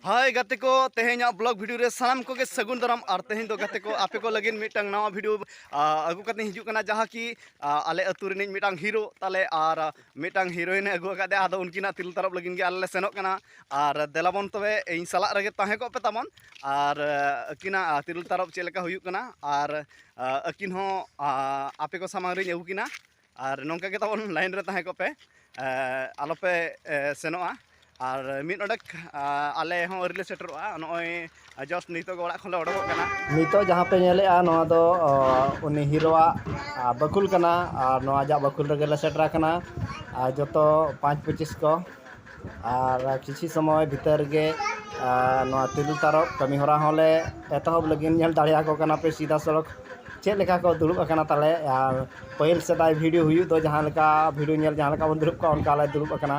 ᱦᱟᱭ ᱜᱟᱛᱮ ᱠᱚ ᱛᱮᱦᱮᱧᱟᱜ ᱵᱞᱚᱜ ᱵᱷᱤᱰᱤᱭᱳ ᱨᱮ ᱥᱟᱱᱟᱢ ᱠᱚᱜᱮ ᱥᱟᱹᱜᱩᱱ ᱫᱟᱨᱟᱢ ᱟᱨ ᱛᱮᱦᱮᱧ ᱫᱚ ᱜᱟᱛᱮ ᱠᱚ ᱟᱯᱮ ᱠᱚ ᱞᱟᱹᱜᱤᱫ ᱢᱤᱫᱴᱟᱝ ᱱᱟᱣᱟ ᱵᱷᱤᱰᱤᱭᱳ ᱟᱹᱜᱩ ᱠᱟᱛᱮᱧ ᱦᱤᱡᱩᱜ ᱠᱟᱱᱟ ᱡᱟᱦᱟᱸ ᱠᱤ ᱟᱞᱮ ᱟᱹᱛᱩ ᱨᱤᱱᱤᱡ ᱢᱤᱫᱴᱟᱝ ᱦᱤᱨᱳ ᱛᱟᱞᱮ ᱟᱨ ᱢᱤᱫᱴᱟᱝ ᱦᱤᱨᱳᱭᱤᱱ ᱮ ᱟᱹᱜᱩ ᱟᱠᱟᱫᱮ ᱟᱫᱚ ᱩᱱᱠᱤᱱᱟᱜ ᱛᱤᱨᱞ ᱛᱟᱨᱚᱵ ᱞᱟᱹᱜᱤᱫ ᱜᱮ ᱟᱞᱮ ᱞᱮ ᱥᱮᱱᱚᱜ ᱠᱟᱱᱟ ᱟᱨ ᱫᱮᱞᱟᱵᱚᱱ ᱛᱚᱵᱮ ᱤᱧ ᱥᱟᱞᱟᱜ ᱨᱮᱜᱮ ᱛᱟᱦᱮᱸ ᱠᱚᱜ ᱯᱮ ᱛᱟᱵᱚᱱ ᱟᱨ ᱟᱹᱠᱤᱱᱟᱜ ᱛᱤᱨᱞ ᱛᱟᱨᱚᱵ ᱪᱮᱫ ᱞᱮᱠᱟ ᱦᱩᱭᱩᱜ ᱠᱟᱱᱟ ᱟᱨ ᱟᱹᱠᱤᱱ ᱦᱚᱸ ᱟᱯᱮ ᱠᱚ ᱥᱟᱢᱟᱝ ᱨᱤᱧ ᱟᱹᱜᱩ ᱠᱤᱱᱟ ᱟᱨ ᱱᱚᱝᱠᱟ ᱜᱮ ᱛᱟᱵᱚᱱ ᱞᱟᱭᱤᱱ ᱨᱮ ᱛᱟᱦᱮᱸ ᱠᱚᱜ ᱯᱮ ᱟᱞᱚᱯᱮ ᱥᱮᱱᱚᱜᱼᱟ ᱟᱨ ᱢᱤᱫ ᱚᱰᱮᱠ ᱟᱞᱮ ᱦᱚᱸ ᱟᱹᱣᱨᱤ ᱞᱮ ᱥᱮᱴᱮᱨᱚᱜᱼᱟ ᱱᱚᱜᱼᱚᱭ ᱡᱚᱥᱴ ᱱᱤᱛᱚᱜ ᱚᱲᱟᱜ ᱠᱷᱚᱱ ᱞᱮ ᱚᱰᱚᱠᱚᱜ ᱠᱟᱱᱟ ᱱᱤᱛᱚᱜ ᱡᱟᱦᱟᱸ ᱯᱮ ᱧᱮᱞᱮᱜᱼᱟ ᱱᱚᱣᱟ ᱫᱚ ᱩᱱᱤ ᱦᱤᱨᱳᱣᱟᱜ ᱵᱟᱹᱠᱷᱩᱞ ᱠᱟᱱᱟ ᱟᱨ ᱱᱚᱣᱟ ᱟᱡᱟᱜ ᱵᱟᱹᱠᱷᱩᱞ ᱨᱮᱜᱮ ᱞᱮ ᱥᱮᱴᱮᱨ ᱟᱠᱟᱱᱟ ᱟᱨ ᱡᱚᱛᱚ ᱯᱟᱸᱪ ᱯᱚᱸᱪᱤᱥ ᱠᱚ ᱟᱨ ᱠᱤᱪᱷᱩ ᱥᱚᱢᱚᱭ ᱵᱷᱤᱛᱟᱹᱨ ᱨᱮᱜᱮ ᱱᱚᱣᱟ ᱛᱤᱨᱤᱞ ᱛᱟᱨᱚᱵ ᱠᱟᱹᱢᱤ ᱦᱚᱨᱟ ᱦᱚᱸᱞᱮ ᱮᱛᱚᱦᱚᱵ ᱞᱟᱹᱜᱤᱫ ᱧᱮᱞ ᱫᱟᱲᱮᱭᱟᱠᱚ ᱠᱟᱱᱟ ᱯᱮ ᱥᱤᱫᱟ ᱥᱚᱲᱚᱠ ᱪᱮᱫ ᱞᱮᱠᱟ ᱠᱚ ᱫᱩᱲᱩᱵ ᱟᱠᱟᱱᱟ ᱛᱟᱞᱮ ᱟᱨ ᱯᱟᱹᱦᱤᱞ ᱥᱮᱫᱟᱭ ᱵᱷᱤᱰᱤᱭᱳ ᱦᱩᱭᱩᱜ ᱫᱚ ᱡᱟᱦᱟᱸ ᱞᱮᱠᱟ ᱵᱷᱤᱰᱤᱭᱳ ᱧᱮᱞ ᱡᱟᱦᱟᱸ ᱞᱮᱠᱟ ᱵᱚᱱ ᱫᱩᱲᱩᱵ ᱠᱚᱜᱼᱟ ᱚᱱᱠᱟ ᱞᱮ ᱫᱩᱲᱩᱵ ᱟᱠᱟᱱᱟ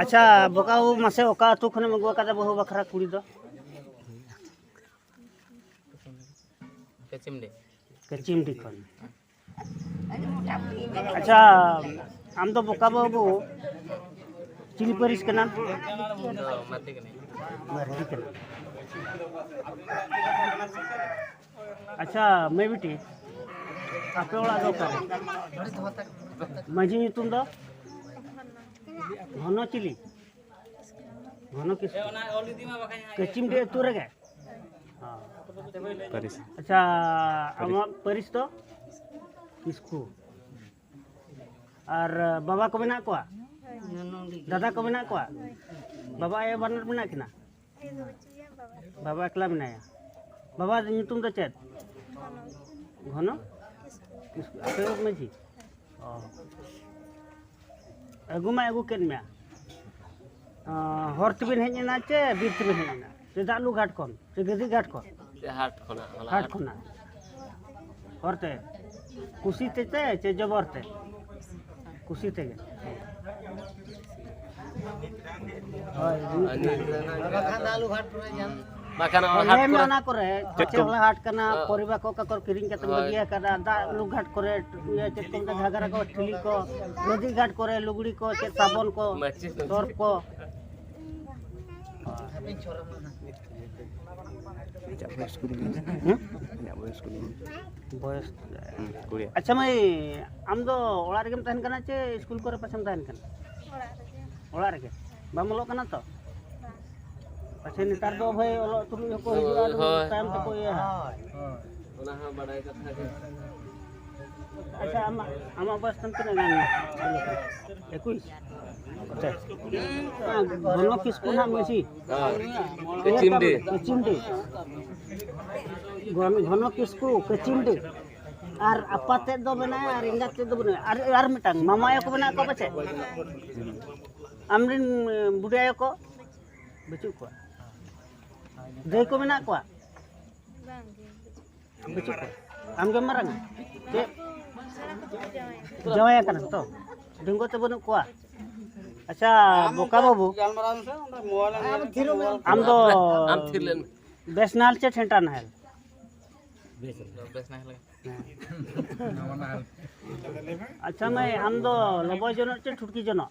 ᱟᱪᱪᱷᱟ ᱵᱚᱠᱟ ᱵᱟᱹᱵᱩ ᱢᱟᱥᱮ ᱚᱠᱟ ᱟᱹᱛᱩ ᱠᱷᱚᱱᱮᱢ ᱟᱹᱜᱩ ᱟᱠᱟᱫᱟ ᱵᱟᱹᱦᱩ ᱵᱟᱠᱷᱨᱟ ᱠᱩᱲᱤ ᱫᱚ ᱠᱟᱪᱤᱢᱰᱤ ᱠᱟᱪᱤᱢᱰᱤ ᱠᱷᱚᱱ ᱟᱪᱪᱷᱟ ᱟᱢ ᱫᱚ ᱵᱚᱠᱟ ᱵᱟᱹᱵᱩ ᱪᱤᱞᱤ ᱯᱟᱹᱨᱤᱥ ᱠᱟᱱᱟᱢ ᱢᱟᱨᱰᱤ ᱠᱟᱱᱟᱢ ᱟᱪᱪᱷᱟ ᱢᱟᱹᱭ ᱵᱤᱴᱤ ᱟᱯᱮ ᱚᱲᱟᱜ ᱫᱚ ᱚᱠᱟᱨᱮ ᱢᱟᱹᱡᱷᱤ ᱧᱩᱛᱩᱢ ᱫᱚ ᱜᱷᱚᱱᱚ ᱪᱤᱞᱤ ᱜᱷᱚᱱᱚ ᱠᱤᱥᱠᱩ ᱠᱟᱹᱪᱤᱢ ᱰᱤ ᱟᱹᱛᱩ ᱨᱮᱜᱮ ᱯᱟᱹᱨᱤᱥ ᱟᱪᱪᱷᱟ ᱟᱢᱟᱜ ᱯᱟᱹᱨᱤᱥ ᱫᱚ ᱠᱤᱥᱠᱩ ᱟᱨ ᱵᱟᱵᱟ ᱠᱚ ᱢᱮᱱᱟᱜ ᱠᱚᱣᱟ ᱫᱟᱫᱟ ᱠᱚ ᱢᱮᱱᱟᱜ ᱠᱚᱣᱟ ᱵᱟᱵᱟ ᱟᱭᱳ ᱵᱟᱱᱟᱨ ᱢᱮᱱᱟᱜ ᱠᱤᱱᱟ ᱵᱟᱵᱟ ᱮᱠᱞᱟ ᱢᱮᱱᱟᱭᱟ ᱵᱟᱵᱟ ᱧᱩᱛᱩᱢ ᱫᱚ ᱪᱮᱫ ᱜᱷᱚᱱᱚ ᱟᱯᱮ ᱢᱟᱺᱡᱷᱤ ᱚ ᱟᱹᱜᱩ ᱢᱟᱭ ᱟᱹᱜᱩ ᱠᱮᱫ ᱢᱮᱭᱟ ᱦᱚᱨ ᱛᱮᱵᱤᱱ ᱦᱮᱡ ᱮᱱᱟ ᱪᱮ ᱵᱤᱨ ᱛᱮᱵᱤᱱ ᱦᱮᱡ ᱮᱱᱟ ᱪᱮᱫᱟᱜ ᱞᱩ ᱜᱷᱟᱴ ᱠᱷᱚᱱ ᱥᱮ ᱜᱟᱹᱫᱤ ᱜᱷᱟᱴ ᱠᱷᱚᱱ ᱦᱟᱴ ᱠᱷᱚᱱᱟᱜ ᱦᱟᱴ ᱠᱷᱚᱱᱟᱜ ᱦᱚᱨᱛᱮ ᱠᱩᱥᱤ ᱛᱮ ᱪᱮ ᱡᱚᱵᱚᱨ ᱛᱮ ᱠᱩᱥᱤ ᱛᱮᱜᱮ ᱦᱳᱭ ᱵᱟᱠᱷᱟᱱ ᱚᱱᱟ ᱠᱚᱨᱮ ᱯᱟᱪᱮ ᱦᱚᱞᱟ ᱦᱟᱴ ᱠᱟᱱᱟ ᱯᱚᱨᱤᱵᱟ ᱠᱚ ᱠᱟᱠᱚᱨ ᱠᱤᱨᱤᱧ ᱠᱟᱛᱮ ᱵᱟᱹᱜᱤᱭᱟ ᱠᱟᱫᱟ ᱫᱟᱜ ᱞᱩ ᱜᱷᱟᱴ ᱠᱚᱨᱮ ᱤᱭᱟᱹ ᱪᱮᱫ ᱠᱚ ᱢᱮᱛᱟᱜ ᱜᱷᱟᱜᱟᱨᱟ ᱠᱚ ᱴᱷᱤᱞᱤ ᱠᱚ ᱱᱚᱫᱤ ᱜᱷᱟᱴ ᱠᱚᱨᱮ ᱞᱩᱜᱽᱲᱤ ᱠᱚ ᱪᱮᱫ ᱥᱟᱵᱚᱱ ᱠᱚ ᱛᱚᱨ ᱠᱚ ᱵᱚᱭᱮᱥ ᱟᱪᱪᱷᱟ ᱢᱟᱹᱭ ᱟᱢ ᱫᱚ ᱚᱲᱟᱜ ᱨᱮᱜᱮᱢ ᱛᱟᱦᱮᱱ ᱠᱟᱱᱟ ᱪᱮ ᱥᱠᱩᱞ ᱠᱚᱨᱮ ᱯᱟᱪᱮᱢ ᱛᱟᱦᱮᱱ ᱠᱟᱱᱟ ᱚᱲᱟᱜ ᱨᱮᱜᱮ ᱵᱟᱢ ᱚᱞᱚᱜ ᱠᱟᱱᱟ ᱛᱚ ᱟᱪᱪᱷᱟ ᱱᱮᱛᱟᱨ ᱫᱚ ᱵᱷᱟᱹᱭ ᱚᱞᱚᱜ ᱛᱩᱞᱩᱡ ᱦᱚᱸᱠᱚ ᱦᱤᱡᱩᱜᱼᱟ ᱟᱫᱚ ᱛᱟᱭᱚᱢ ᱛᱮᱠᱚ ᱤᱭᱟᱹ ᱚᱱᱟ ᱦᱚᱸ ᱵᱟᱰᱟᱭ ᱠᱟᱛᱷᱟ ᱜᱮ ᱟᱪᱪᱷᱟ ᱟᱢᱟᱜ ᱟᱢᱟᱜ ᱵᱚᱭᱮᱥ ᱛᱟᱢ ᱛᱤᱱᱟᱹᱜ ᱜᱟᱱ ᱮᱠᱩᱥ ᱟᱪᱪᱷᱟ ᱜᱷᱚᱱᱚ ᱠᱤᱥᱠᱩ ᱱᱟᱜ ᱢᱟᱹᱡᱷᱤ ᱠᱟᱪᱤᱢᱰᱤ ᱠᱟᱪᱤᱢᱰᱤ ᱜᱷᱚᱱᱚ ᱠᱤᱥᱠᱩ ᱠᱟᱪᱤᱢᱰᱤ ᱟᱨ ᱟᱯᱟ ᱛᱮᱫ ᱫᱚ ᱢᱮᱱᱟᱭᱟ ᱟᱨ ᱮᱸᱜᱟᱛ ᱛᱮᱫ ᱫᱚ ᱵᱟᱹᱱᱩᱭᱟ ᱟᱨ ᱟᱨ ᱢᱤᱫᱴᱟᱝ ᱢᱟᱢᱟ ᱟᱭᱳ ᱠᱚ ᱢᱮᱱᱟᱜ ᱠᱚᱣᱟ ᱯᱟᱪᱮᱫ ᱟᱢᱨᱮᱱ ᱵᱩᱰᱷᱤ ᱟᱭᱳ ᱠᱚ ᱵᱟᱹᱪᱩᱜ ᱠᱚᱣᱟ ᱫᱟᱹᱭ ᱠᱚ ᱢᱮᱱᱟᱜ ᱠᱚᱣᱟ ᱟᱢᱜᱮ ᱢᱟᱨᱟᱝᱟ ᱪᱮᱫ ᱡᱟᱶᱟᱭ ᱠᱟᱱᱟ ᱛᱚ ᱰᱩᱝᱜᱚ ᱛᱮ ᱵᱟᱹᱱᱩᱜ ᱠᱚᱣᱟ ᱟᱪᱪᱷᱟ ᱵᱚᱠᱟ ᱵᱟᱹᱵᱩ ᱟᱢ ᱫᱚ ᱵᱮᱥ ᱱᱟᱦᱮᱞ ᱪᱮ ᱴᱷᱮᱱᱴᱟ ᱱᱟᱦᱮᱞ ᱟᱪᱪᱷᱟ ᱢᱟᱹᱭ ᱟᱢ ᱫᱚ ᱞᱚᱵᱚᱭ ᱡᱚᱱᱚᱜ ᱪᱮ ᱴᱷᱩᱴᱠᱤ ᱡᱚᱱᱚᱜ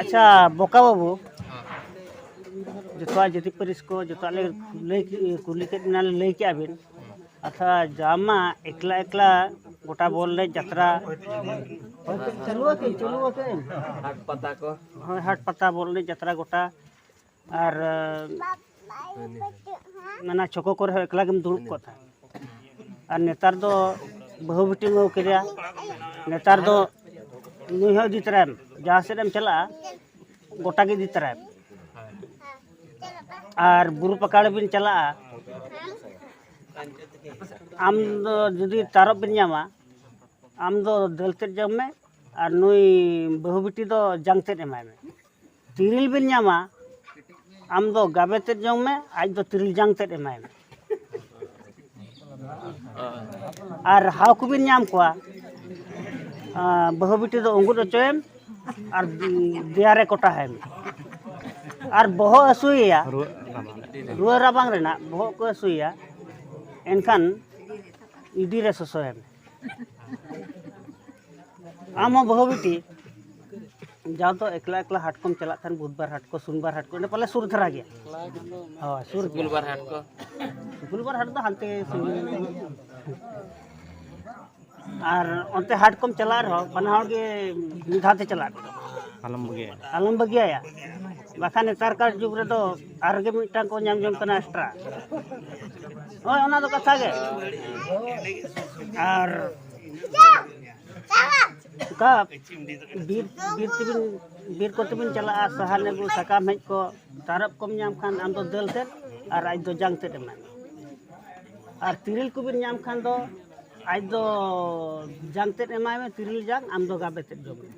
ᱟᱪᱪᱷᱟ ᱵᱚᱠᱟ ᱵᱟᱹᱵᱩ ᱡᱚᱛᱚᱣᱟᱜ ᱡᱟᱹᱛᱤ ᱯᱟᱹᱨᱤᱥ ᱠᱚ ᱡᱚᱛᱚᱣᱟᱜ ᱞᱮ ᱞᱟᱹᱭ ᱠᱩᱞᱤ ᱠᱮᱫ ᱵᱮᱱᱟ ᱞᱟᱹᱭ ᱠᱮᱫᱼᱟ ᱵᱤᱱ ᱟᱪᱪᱷᱟ ᱡᱟᱢᱟ ᱮᱠᱞᱟ ᱮᱠᱞᱟ ᱜᱚᱴᱟ ᱵᱚᱞ ᱞᱮ ᱡᱟᱛᱨᱟ ᱦᱟᱴ ᱯᱟᱛᱟ ᱠᱚ ᱦᱳᱭ ᱦᱟᱴ ᱯᱟᱛᱟ ᱵᱚᱞ ᱞᱮ ᱡᱟᱛᱨᱟ ᱜᱚᱴᱟ ᱟᱨ ᱢᱟᱱᱮ ᱪᱷᱚᱠᱳ ᱠᱚᱨᱮ ᱦᱚᱸ ᱮᱠᱞᱟ ᱜᱮᱢ ᱫᱩᱲᱩᱵ ᱠᱚᱜ ᱛᱟᱦᱮᱸᱫ ᱟᱨ ᱱᱮᱛᱟᱨ ᱫᱚ ᱵᱟᱹᱦᱩ ᱵᱤᱴᱤᱢ ᱟᱹᱜᱩ ᱠᱮᱫᱮᱭᱟ ᱱᱮᱛᱟᱨ ᱫᱚ ᱱᱩᱭ ᱦᱚᱸ ᱤᱫᱤ ᱛᱚᱨᱟᱭᱮᱢ ᱡᱟᱦᱟᱸ ᱥᱮᱫ ᱮᱢ ᱪᱟᱞᱟᱜᱼᱟ ᱜᱚᱴᱟ ᱜᱮ ᱤᱫᱤ ᱛᱚᱨᱟᱭᱮᱢ ᱟᱨ ᱵᱩᱨᱩ ᱯᱟᱠᱟᱲ ᱵᱤᱱ ᱪᱟᱞᱟᱜᱼᱟ ᱟᱢ ᱫᱚ ᱡᱩᱫᱤ ᱛᱟᱨᱚᱵ ᱵᱤᱱ ᱧᱟᱢᱟ ᱟᱢ ᱫᱚ ᱫᱟᱹᱞ ᱛᱮᱫ ᱡᱚᱢ ᱢᱮ ᱟᱨ ᱱᱩᱭ ᱵᱟᱹᱦᱩ ᱵᱤᱴᱤ ᱫᱚ ᱡᱟᱝ ᱛᱮᱫ ᱮᱢᱟᱭ ᱢᱮ ᱛᱤᱨᱤᱞ ᱵᱤᱱ ᱧᱟᱢᱟ ᱟᱢ ᱫᱚ ᱜᱟᱵᱮ ᱛᱮᱫ ᱡᱚᱢ ᱢᱮ ᱟᱡ ᱫᱚ ᱛᱤᱨᱤᱞ ᱡᱟᱝ ᱛᱮᱫ ᱮᱢᱟᱭ ᱢᱮ ᱟᱨ ᱦᱟᱣ ᱠᱚᱵᱤᱱ ᱧᱟᱢ ᱠᱚᱣᱟ ᱵᱟᱹᱦᱩ ᱵᱤᱴᱤ ᱫᱚ ᱩᱸᱜᱩᱫ ᱦᱚᱪᱚᱭᱮᱢ ᱟᱨ ᱫᱮᱭᱟᱨᱮ ᱠᱚᱴᱟ ᱦᱟᱭ ᱢᱮ ᱟᱨ ᱵᱚᱦᱚᱜ ᱦᱟᱹᱥᱩᱭᱮᱭᱟ ᱨᱩᱣᱟᱹ ᱨᱟᱵᱟᱝ ᱨᱮᱱᱟᱜ ᱵᱚᱦᱚᱜ ᱠᱚ ᱦᱟᱹᱥᱩᱭᱮᱭᱟ ᱮᱱᱠᱷᱟᱱ ᱤᱰᱤᱨᱮ ᱥᱚᱥᱚᱭᱮᱢ ᱟᱢ ᱦᱚᱸ ᱵᱟᱹᱦᱩ ᱵᱤᱴᱤ ᱡᱟᱣ ᱫᱚ ᱮᱠᱞᱟ ᱮᱠᱞᱟ ᱦᱟᱴ ᱠᱚᱢ ᱪᱟᱞᱟᱜ ᱠᱷᱟᱱ ᱵᱩᱫᱷᱵᱟᱨ ᱦᱟᱴ ᱠᱚ ᱥᱩᱱᱵᱟᱨ ᱦᱟᱴ ᱠᱚ ᱚᱸᱰᱮ ᱯᱟᱞᱮ ᱥᱩᱨ ᱫᱷᱟᱨᱟ ᱜᱮᱭᱟ ᱦᱳᱭ ᱥᱩᱨ ᱜᱮᱭᱟ ᱜᱩᱞᱵᱟᱨ ᱦᱟᱴ ᱠᱚ ᱜᱩᱞᱵᱟᱨ ᱦᱟᱴ ᱫᱚ ᱦᱟᱱᱛᱮ ᱟᱨ ᱚᱱᱛᱮ ᱦᱟᱴ ᱠᱚᱢ ᱪᱟᱞᱟᱜ ᱨᱮᱦᱚᱸ ᱵᱟᱱᱟ ᱦᱚᱲ ᱜᱮ ᱢᱤᱫ ᱫᱷᱟᱣ ᱛᱮ ᱪᱟᱞᱟᱜ ᱟᱞᱚᱢ ᱵᱟᱹᱜᱤᱭᱟ ᱟᱞᱚᱢ ᱵᱟᱹᱜᱤᱭᱟᱭᱟ ᱵᱟᱠᱷᱟᱱ ᱱᱮᱛᱟᱨ ᱠᱟᱨ ᱡᱩᱜᱽ ᱨᱮᱫᱚ ᱟᱨ ᱜᱮ ᱢᱤᱫᱴᱟᱝ ᱠᱚ ᱧᱟᱢ ᱡᱚᱝ ᱠᱟᱱᱟ ᱮᱠᱥᱴᱨᱟ ᱦᱳᱭ ᱚᱱᱟ ᱫᱚ ᱠᱟᱛᱷᱟ ᱜᱮ ᱟᱨ ᱚᱠᱟ ᱵᱤᱨ ᱵᱤᱨ ᱛᱮᱵᱤᱱ ᱵᱤᱨ ᱠᱚᱛᱮ ᱵᱤᱱ ᱪᱟᱞᱟᱜᱼᱟ ᱥᱟᱦᱟᱱ ᱟᱹᱜᱩ ᱥᱟᱠᱟᱢ ᱦᱮᱡ ᱠᱚ ᱛᱟᱨᱚᱵ ᱠᱚᱢ ᱧᱟᱢ ᱠᱷᱟᱱ ᱟᱢ ᱫᱚ ᱫᱟᱹᱞ ᱛᱮᱫ ᱟᱨ ᱟᱡ ᱫᱚ ᱡᱟᱝ ᱛᱮᱫ ᱮᱢᱟᱭ ᱢᱮ ᱟᱨ ᱛᱤᱨᱤᱞ ᱠᱚᱵᱤᱱ ᱧᱟᱢ ᱠᱷᱟᱱ ᱫᱚ ᱟᱡ ᱫᱚ ᱡᱟᱝ ᱛᱮᱫ ᱮᱢᱟᱭ ᱢᱮ ᱛᱤᱨᱤᱞ ᱡᱟᱝ ᱟᱢ ᱫᱚ ᱜᱟᱵᱮ ᱛᱮᱫ ᱡᱚᱢ ᱢᱮ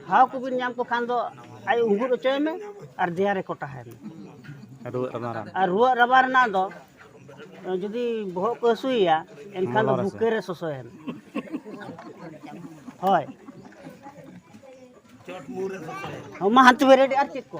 ᱦᱟᱣ ᱠᱚᱵᱤᱱ ᱧᱟᱢ ᱠᱚ ᱠᱷᱟᱱ ᱫᱚ ᱟᱡ ᱩᱸᱜᱩᱨ ᱦᱚᱪᱚᱭ ᱢᱮ ᱟᱨ ᱫᱮᱭᱟ ᱨᱮ ᱠᱚᱴᱟᱦᱟᱭ ᱢᱮ ᱨᱩᱣᱟᱹᱜ ᱨᱟᱵᱟᱝ ᱨᱮᱱᱟᱜ ᱫᱚ ᱡᱩᱫᱤ ᱵᱚᱦᱚᱜ ᱠᱚ ᱦᱟᱹᱥᱩᱭᱮᱭᱟ ᱮᱱᱠᱷᱟᱱ ᱫᱚ ᱵᱩᱠᱟᱹ ᱨᱮ ᱥᱚᱥᱚᱭᱮᱱ ᱦᱳᱭ ᱢᱟ ᱦᱟᱱᱛᱮ ᱵᱮᱨᱮᱰ ᱟᱨ ᱪᱮᱫ ᱠᱚ